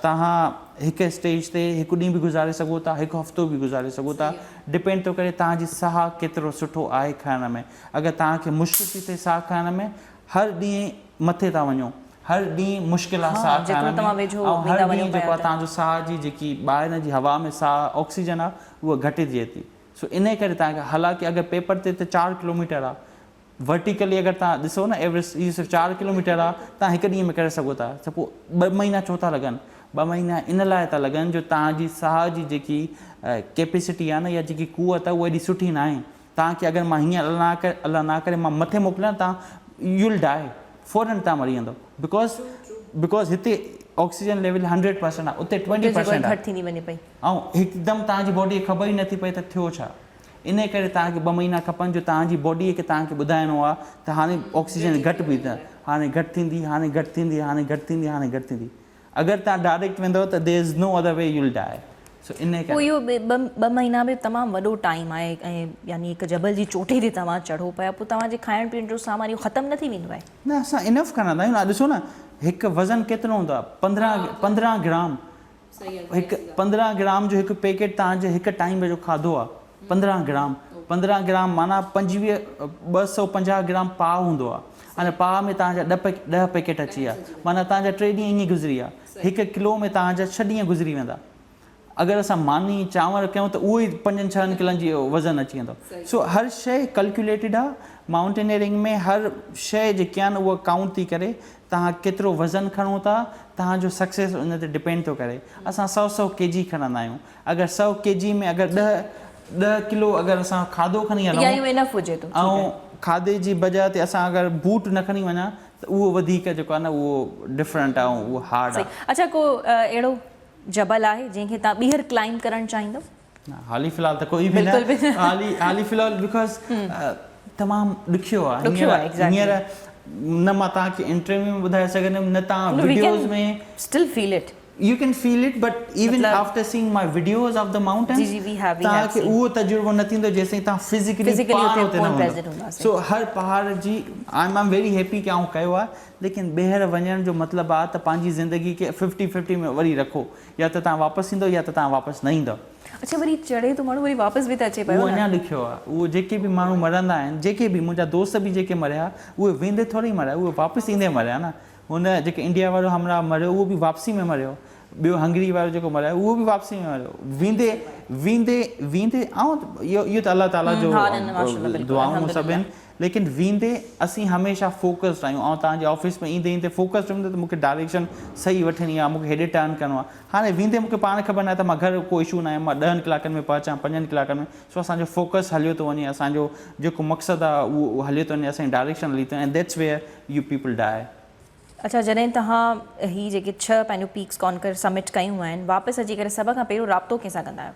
توهان هڪ اسٽيج تي هڪ ڏينهن به گذاري سگهو ٿا هڪ هفتو به گذاري سگهو ٿا ڊپينڊ ٿو ڪري توهان جي ساهه ڪيترو سٺو آهي کڻڻ ۾ اگر توهان کي مشڪل ٿي ٿئي ساهه کڻڻ ۾ هر ڏينهن مٿي ٿا وڃو هر ڏينهن مشڪل آهي ساهه کڻڻ ۾ ۽ هر ڏينهن جيڪو آهي توهان جو ساهه جي جيڪي ٻاهران جي هوا ۾ ساهه آڪسيجن آهي اها گهٽجي ٿي سو انهي ڪري توهان کي حالانڪه اگر پيپر تي ته چار ڪلوميٽر آهي ورٽيڪلي اگر تهان ڏسو نه ايورسٽ اهو صرف چار ڪلوميٽر آ تهان هڪ ڏينهن ۾ ڪري سگهو ٿا ته پوء ٻه مهينا ڇو ٿا لڳن ٻه مهينا ان لاء ٿا لڳن جو تهان جي ساهه جي جيڪي ڪيپيسٽي آ نه يا جيڪي قوت آ اها ايڏي سٺي ناهي تهان کي اگر مان هينئر الله نه ڪري الله نه ڪري مان مٿي موڪليان تهان يو ول ڊاء فورن تهان مري ويندو بڪاز بڪاز هتي آڪسيجن ليول هنڊريڊ پرسنٽ آ اتي ٽوئنٽي پرسنٽ آ ۽ هڪدم تهان جي باڊي کي خبر ئي نه ٿي پئي ته ٿيو ڇا انهيء ڪري توهان کي ٻه مهينا کپن جو توهان جي باڊيء کي توهان کي ٻڌائڻو آهي ته هاڻي آڪسيجن گهٽ پئي ٿئي، هاڻي گهٽ ٿيندي، هاڻي گهٽ ٿيندي، هاڻي گهٽ ٿيندي، هاڻي گهٽ ٿيندي. اگر توهان ڊائريڪٽ ويندؤ ته There is no other way you will die. سو انهيء پوء ڪري. اهو ٻه مهينا به تمام وڏو ٽائيم آهي ۽ يعني هڪ جبل جي چوٽي تي توهان چڙهو پيا پوء توهان جي کائڻ پيئڻ جو سامان اهو ختم نه ٿي ويندو آهي. نه اسان انف کڻندا آهيون ڏسو نه هڪ وزن ڪيترو هوندو آهي پندرهن پندرهن گرام هڪ پندرهن گرام جو هڪ پيڪيٽ توهان جي هڪ ٽائيم جو کاڌو آ پندرهن گرام پندرهن گرام معنيٰ پنجويهه ٻه سؤ پنجاهه گرام پاء هوندو آ ان پاء ۾ توهان جا ڏهه پيڪيٽ اچي ويا معنيٰ توهان جا ٽي ڏينهن ائين گذري ويا هڪ ڪلو ۾ توهان جا ڇهه ڏينهن گذري ويندا اگر اسان ماني چانور ڪيون ته اهو ئي پنجن ڇهن ڪلن جي وزن اچي ويندو سو هر شيء ڪلڪيوليٽيڊ آ مائونٽينئرنگ ۾ هر شيء جيڪي آ نه اهو ڪائونٽ ٿي ڪري توهان ڪيترو وزن کڻو ٿا توهان جو سڪسيس ان تي ڊپينڊ ٿو ڪري اسان سؤ سؤ ڪي جي کڻندا آهيون اگر سؤ ڪي جي ۾ اگر ڏهه ڏهه ڪلو اگر اسان کاڌو کڻي هلون ايا يو انف هجي ٿو ٺيڪ آهي. ۽ کاڌي جي بجا تي اسان اگر بوٽ نه کڻي وڃان ته اهو وڌيڪ جيڪو آهي نه اهو ڊفرنٽ آهي ۽ اهو هارڊ صحيح آهي. اڇا ڪو اهڙو جبل آهي جنهن کي توهان ٻيهر ڪلائمب ڪرڻ چاهيندو. حالي في الحال ته ڪوئي به نه حالي في الحال بڪاز تمام ڏکيو آ هينئر نه مان توهان کي انٽرويو ۾ ٻڌائي سگهندم نه توهان videos ۾ still feel it you can feel it but even after seeing my videos of the mountains توهان کي اهو تجربو نه ٿيندو جيسين توهان فزيڪلي پاڻ اتي نه هوندا سو هر پهاڙ جي آئي ايم ويري هيپي ڪي آئون ڪيو آ ليڪن ٻيهر وڃڻ جو مطلب آ ته پنهنجي زندگي کي ففٽي ففٽي ۾ وري رکو يا ته توهان واپس ايندؤ يا ته توهان واپس نه ايندؤ. اڇا وري چڙهي ٿو ماڻهو وري واپس به ته اچي پيو اهو نه. اڃا ڏکيو آهي اهو جيڪي به ماڻهو مرندا آهن جيڪي به منهنجا دوست به جيڪي مريا اهي ويندي ٿوري مريا اهي واپس ايندي مريا نه هن جيڪي انڊيا وارو همراهه مريو اهو به واپسي ۾ مريو ٻيو هنگري وارو جيڪو مريو اهو به واپسي ۾ مريو ويندي ويندي ويندي آئون اهو ته الله تعاليٰ جو دعائون سڀ آهن. ليڪن ويندي اسين هميشه فوڪسڊ آهيون آئون توهان جي آفيس ۾ ايندي ايندي فوڪسڊ هيم نه ته مونکي ڊائريڪشن صحيح وٺڻي آهي مونکي هيڏي ٽرن ڪرڻو آهي هاڻي ويندي مونکي پاڻ خبر ناهي ته مان گهر ڪو اشو ناهي مان ڏهن ڪلاڪن ۾ پهچان پنجن ڪلاڪن ۾ سو اسان جو فوڪس هليو ٿو وڃي اسان جو جيڪو مقصد آهي اهو هليو ٿو وڃي اسان جي ڊائريڪشن هلي ٿو وڃي that's where you people die. اڇا جڏهن توهان هي جيڪي ڇهه پنهنجون پيڪس ڪانڪر سمٽ ڪيون آهن واپس اچي ڪري سڀ کان پهريون رابطو ڪنهن سان ڪندا آهيو؟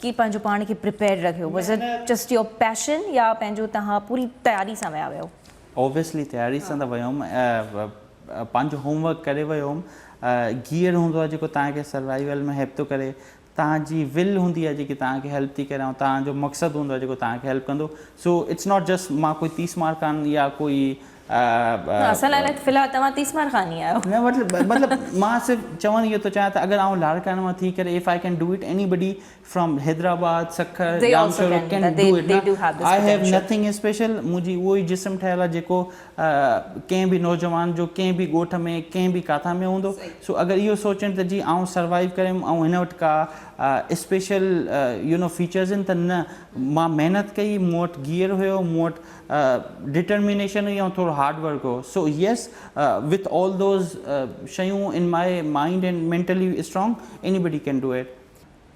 ڪي پنهنجو پاڻ کي پريپيئرڊ رکيو was it just your passion يا پنهنجو تهان پوري تياري سان ويا هيو. اوبيسلي تياري سان ته ويو هوم پنهنجو هوم ورڪ ڪري ويو هوم گيئر هوندو آهي جيڪو تهان کي سروائيول ۾ هيلپ ٿو ڪري تهان جي ول هوندي آهي جيڪي تهان کي هيلپ ٿي ڪري ۽ تهان جو مقصد هوندو آهي جيڪو تهان کي هيلپ ڪندو سو اٽس ناٽ جسٽ مان ڪوئي تيس مارڪان يا ڪوئي اسان لاء نه، في الحال توهان تيسمار خان ئي آهيو. نه مطلب مطلب مان صرف چوڻ اهو ٿو چاهيان ته اگر آئون لاڙڪاڻي مان ٿي ڪري if I can do it anybody from Hyderabad Sukkur They also Jamshoro can can do it they do have this I have potential. Nothing special منهنجي اهو ئي جسم ٺهيل آهي جيڪو ڪنهن به نوجوان جو ڪنهن به ڳوٺ ۾ ڪنهن به ڪاٿان ۾ هوندو سو اگر اهو سوچين ته جي آئون سروائيو ڪريم آئون هن وٽ ڪا اسپيشل يو نو فيچرز آهن ته نه مان محنت ڪئي مون وٽ گيئر هيو مون وٽ ڊٽرمينيشن هئي ۽ ٿورو هارڊ ورڪ هو so yes with all those شيون in my mind and mentally strong anybody can do it.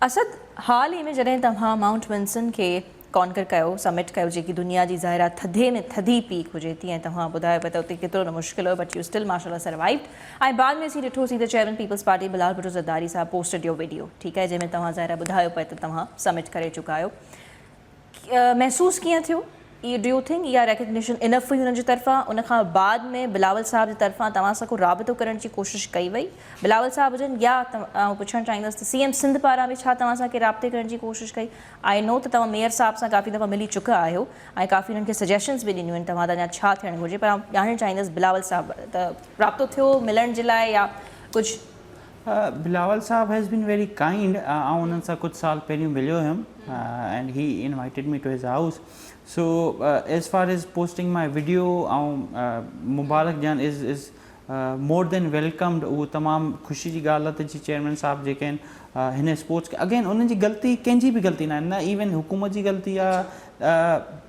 Asad, حال ئي ۾ جڏهن توهان مائونٽ ونسن کي ڪانڪر ڪيو، سمٽ ڪيو جيڪي دنيا جي ظاهرا ٿڌي ۾ ٿڌي پيڪ هجي ٿي ۽ توهان ٻڌايو پئي ته اتي ڪيترو نه مشڪل هيو بٽ يو اسٽل ماشاء الله سروائيوڊ ۽ بعد ۾ اسين ڏٺو سين ته چيئرمين پيپلز پارٽي بلال ڀٽو زرداري صاحب پوسٽڊ يور وڊيو ٺيڪ آهي جنهن ۾ توهان ظاهرا ٻڌايو پئي ته توهان سمٽ ڪري چڪا آهيو محسوس ڪيئن ٿيو؟ اي ڊو يو ٿنڪ اها ريڪگنيشن انف هئي هن جي طرفان؟ ان کان بعد ۾ بلاول صاحب جي طرفان توهان سان ڪو رابطو ڪرڻ جي ڪوشش ڪئي وئي؟ بلاول صاحب هجن يا آئون پڇڻ چاهيندس ته سي ايم سنڌ پاران به ڇا توهان سان ڪنهن رابطي ڪرڻ جي ڪوشش ڪئي؟ آئي نو ته توهان ميئر صاحب سان ڪافي دفعا ملي چڪا آهيو ۽ ڪافي هنن کي سجيشنز به ڏنيون آهن توهان تان يا ڇا ٿيڻ گهرجي پر آئون ڄاڻڻ چاهيندس بلاول صاحب ته رابطو ٿيو ملڻ جي لاء يا ڪجهه بلاول صاحب هيز بين ويري ڪائنڊ آئون انهن سان ڪجهه سال پهريون مليو هيم and he invited me to his house so as far as posting my video آئون مبارڪ ڏيان از از مور دين ويلڪمڊ اهو تمام خوشي جي ڳالهه آهي ته جي چيئرمين صاحب جيڪي آهن هن اسپورٽس کي اگين انهن جي غلطي ڪنهن جي به غلطي نه آهي نه ايون حڪومت جي غلطي آهي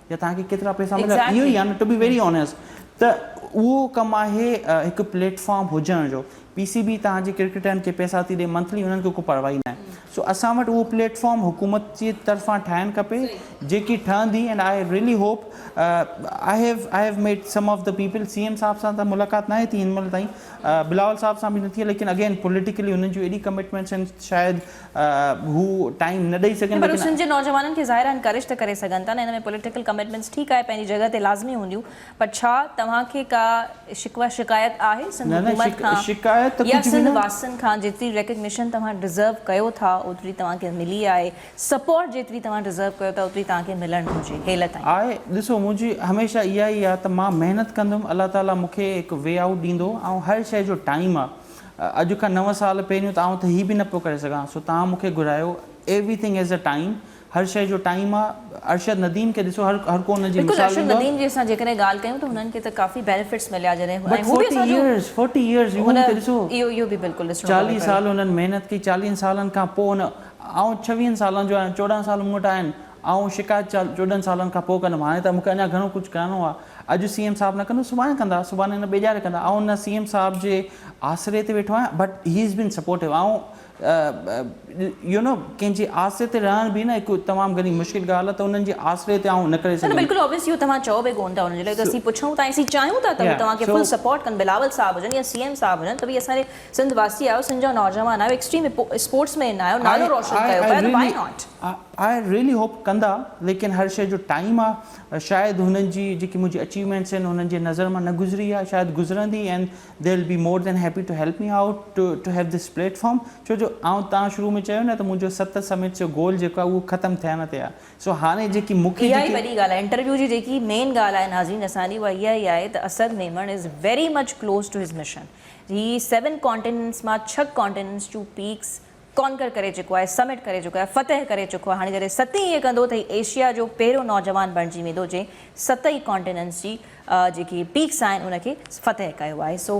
يا توهان کي ڪيترا پئسا مليا اهو ئي آهي نه ٽو بي ويري آنيسٽ ته اهو ڪم آهي هڪ پليٽ فارم هجڻ جو پي سي بي توهان جي ڪرڪيٽرن کي پئسا ٿي ڏي منٿلي انهن کي ڪو پرواهي نه آهي سو اسان وٽ اهو پليٽ فارم حڪومت جي طرفان ٺاهڻ کپي جيڪي ٺهندي and I really hope I have I have met some of the people C M صاحب سان ته ملاقات ناهي ٿي هن مهل تائين بلاول صاحب سان به نه ٿي آهي ليڪن اگين پوليٽيڪلي انهن جون ايڏي ڪمٽمينٽس آهن شايد هو ٽائيم نه ڏئي سگهن پر هو سنڌ جي نوجوانن کي ظاهر آهي انڪريج ته ڪري سگهن ٿا نه ان ۾ پوليٽيڪل ڪمٽمينٽس ٺيڪ آهي پنهنجي جڳهه تي لازمي هونديون پر ڇا توهان کي ڪا شڪوه شڪايت آهي سنڌ حڪومت کان يا سنڌ واسين کان جيتري ريڪگنيشن توهان ڊزرو ڪيو ٿا اوتري توهان کي ملي آهي سپورٽ جيتري توهان ڊزرو ڪيو ٿا اوتري توهان کي ملڻ گهرجي هيل تائين. آهي ڏسو منهنجي هميشه اها ئي آهي ته مان محنت ڪندم الله تعالي مون کي هڪ وي آئوٽ ڏيندو ۽ هر شئي جو ٽائيم آهي. اڄ کان نو سال پهريون ته آئون ته هي به نه پيو ڪري سگهان سو توهان مون کي گهرايو everything has a time هر شيء جو ٽائيم آ ارشد نديم کي ڏسو هر هر ڪو ان جي بلڪل مثال ارشد ڏيندو آ. نديم جي اسان جيڪڏهن ڳالهه ڪيون ته هنن کي ته ڪافي بينيفٽس مليا جڏهن بٽ ۽ هو به فورٽي اسان جو ايئرس فورٽي ايئرس يو هن کي ڏسو اهو اهو به بلڪل ڏسڻو پوي چاليهه پيو. سال هنن محنت ڪئي چاليهن سالن کان پوء هن آئون ڇويهن سالن جو آهيان چوڏهن سال مون وٽ آهن آئون شڪايت چوڏهن سالن کان پوء ڪندم، هاڻي ته مون کي اڃا گهڻو ڪجهه ڪرڻو آهي. اڄ سي ايم صاحب نه ڪندو سڀاڻي ڪندا، سڀاڻي نه ٻئي ڄاڙي ڪندا. آئون نه سي ايم صاحب جي آسري تي ويٺو آهيان but he has been supportive. آئون يو نو ڪنهن جي آسري تي رهڻ به نه هڪ تمام گهڻي مشڪل ڳالهه آهي ته انهن جي آسري تي آئون نه ڪري نه نه سگهندم. بلڪل آبويس اهو توهان چئو به ڪونه ٿا انهن جي لاء ته اسين پڇون ٿا ۽ اسين چاهيون ٿا ته هو توهان کي فل سپورٽ ڪن بلاول صاحب هجن يا سي ايم صاحب هجن ته ڀئي اسان جي سنڌ واسي آهيو سنڌ جا نوجوان آهيو ايڪسٽريم اسپورٽس مين آهيو نالو روشن ڪيو پيا ته why not. I really hope ڪندا ليڪن هر شيء جو ٽائيم آ شايد هنن جي جيڪي منهنجي اچيومينٽس آهن هنن جي نظر مان نه گذري آ شايد گذرندي and they will be more than happy to help me out to to have this platform ڇو جو آئون تان شروع ۾ چيو نه ته منهنجو ست سمٽس جو گول جيڪو آ اهو ختم ٿيڻ تي آ سو هاڻي جيڪي مون کي اها ئي جيڪي وڏي ڳالهه آهي انٽرويو جي جيڪي مين ڳالهه آهي ناظرين اسان جي اها اها ئي آهي ته Asad Memon is very much close to his mission he seven continents مان ڇهه ڪانٽيننٽس ٽو پيڪس ڪانڪر ڪري چڪو آهي، سمٽ ڪري چڪو آهي، فتح ڪري چڪو آهي، هاڻي جڏهن ست ئي ائين ڪندو ته هي ايشيا جو پهريون نوجوان بڻجي ويندو جنهن ست ئي ڪانٽيننٽس جي جيڪي پيڪس آهن ان کي فتح ڪيو آهي سو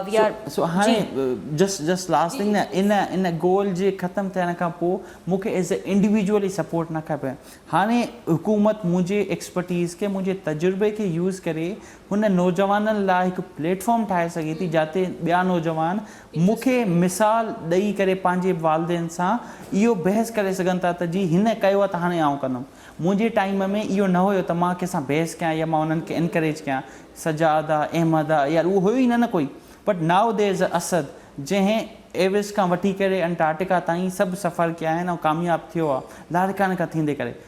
وي آر سو هاڻي جي. جسٽ جسٽ لاسٽ ٿنگ نه ان ان گول جي ختم ٿيڻ کان پوء مون کي ايز اي انڊيويجول هي سپورٽ نه کپي هاڻي حڪومت منهنجي ايڪسپرٽيز کي منهنجي تجربي کي يوز ڪري هن نوجوانن لاء هڪ پليٽ فارم ٺاهي سگهي ٿي جاتي ٻيا نوجوان مون کي مثال ڏئي ڪري پنهنجي والدين سان اهو بحث ڪري سگهن ٿا ته جي هن ڪيو آهي ته هاڻي آئون ڪندم. منهنجي ٽائيم ۾ اهو نه هيو ته مان ڪنهن سان بحث ڪيان يا مان انهن کي انڪريج ڪيان. سجاده، احمده يار اهو هيو ئي نه نه ڪوئي. But now there is Asad جنهن ايوس کان وٺي ڪري انٽارٽيڪا تائين سڀ سفر ڪيا آهن ۽ ڪامياب ٿيو آهي لاڙڪاڻي کان ٿيندي ڪري.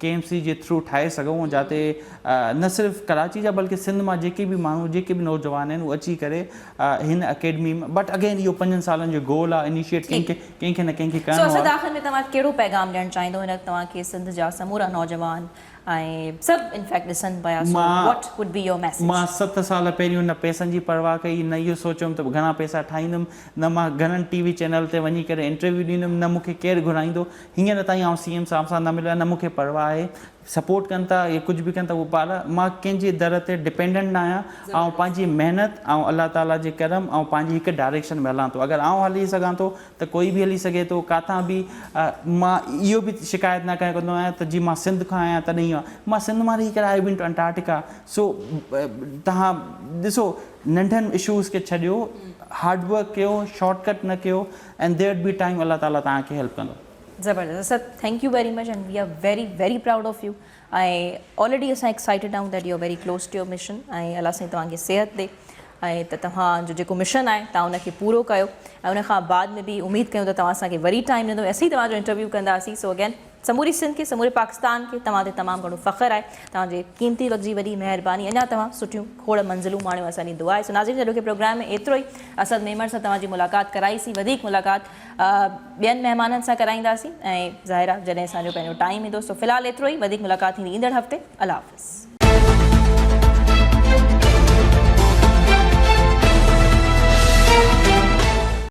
ڪي ايم سي جي ٿرو ٺاهي سگهون جاتي نه صرف ڪراچي جا بلڪه سنڌ مان جيڪي به ماڻهو جيڪي به نوجوان آهن اهي اچي ڪري هن اڪيڊمي ۾ بٽ اگين اهو پنجن سالن جو گول آهي انيشيٽ ڪنهن کي ڪنهن کي نه ڪنهن کي ڪرڻو آهي. سو آخر ۾ توهان ڪهڙو پيغام ڏيڻ چاهيندو هن وقت توهان کي سنڌ جا سمورا نوجوان ۽ سڀ انفيڪٽ ڏسن پيا so what would be your message. مان ست سال پهريون نه پيسن جي پرواهه ڪئي نه اهو سوچيم ته گهڻا پيسا ٺاهيندم نه مان گهڻن ٽي وي چينل تي وڃي ڪري انٽرويو ڏيندم نه مون کي ڪير گهرائيندو هينئر تائين آئون سي ايم صاحب سان نه مليو آهي نه مون کي پرواهه آهي سپورٽ ڪن ٿا يا ڪجهه به ڪن ٿا پر مان ڪنهن جي در تي ڊپينڊنٽ نه آهيان آئون پنهنجي محنت ۽ الله تعالي جي ڪرم ۽ پنهنجي هڪ ڊائريڪشن ۾ هلان ٿو اگر آئون هلي سگهان ٿو ته ڪوئي به هلي سگهي ٿو ڪاٿان به مان اهو به شڪايت نه ڪنهن کي ڪندو آهيان ته جي مان سنڌ کان آهيان تڏهن اهو مان سنڌ مان رهي ڪري آئي بين ٽو انٽارٽيڪا سو تهان ڏسو ننڍن اشوز کي ڇڏيو هارڊ ورڪ ڪيو شارٽ ڪٽ نه ڪيو اينڊ ديئرڊ بي ٽائيم الله تعالي توهان کي هيلپ ڪندو. زبردست sir thank you very much and we are very very proud of you ۽ already اسان ايڪسائيٽيڊ آهيون that you are very close to your mission ۽ الله سائين توهان کي صحت ڏي ۽ ته توهان جو جيڪو مشن آهي توهان ان کي پورو ڪيو ۽ ان کان بعد ۾ به اميد ڪيون ته توهان اسان کي وري ٽائيم ڏيندو اسين توهان جو انٽرويو ڪنداسين سو اگين سموري سنڌ کي سموري پاڪستان کي توهان تي تمام گهڻو فخر آهي توهان جي قيمتي وقت جي وڏي مهرباني اڃا توهان سٺيون کوڙ منزلون ماڻيو اسان جي دعا آهي سو ناظرين اڄوڪي پروگرام ۾ ايترو ئي اسد ميمڻ سان توهان جي ملاقات ڪرائي سي وڌيڪ ملاقات ٻين مهمانن سان ڪرائينداسين ۽ ظاهر آهي جڏهن اسان جو پنهنجو ٽائيم ايندو سو في الحال ايترو ئي وڌيڪ ملاقات ٿيندي ايندڙ هفتي الله حافظ.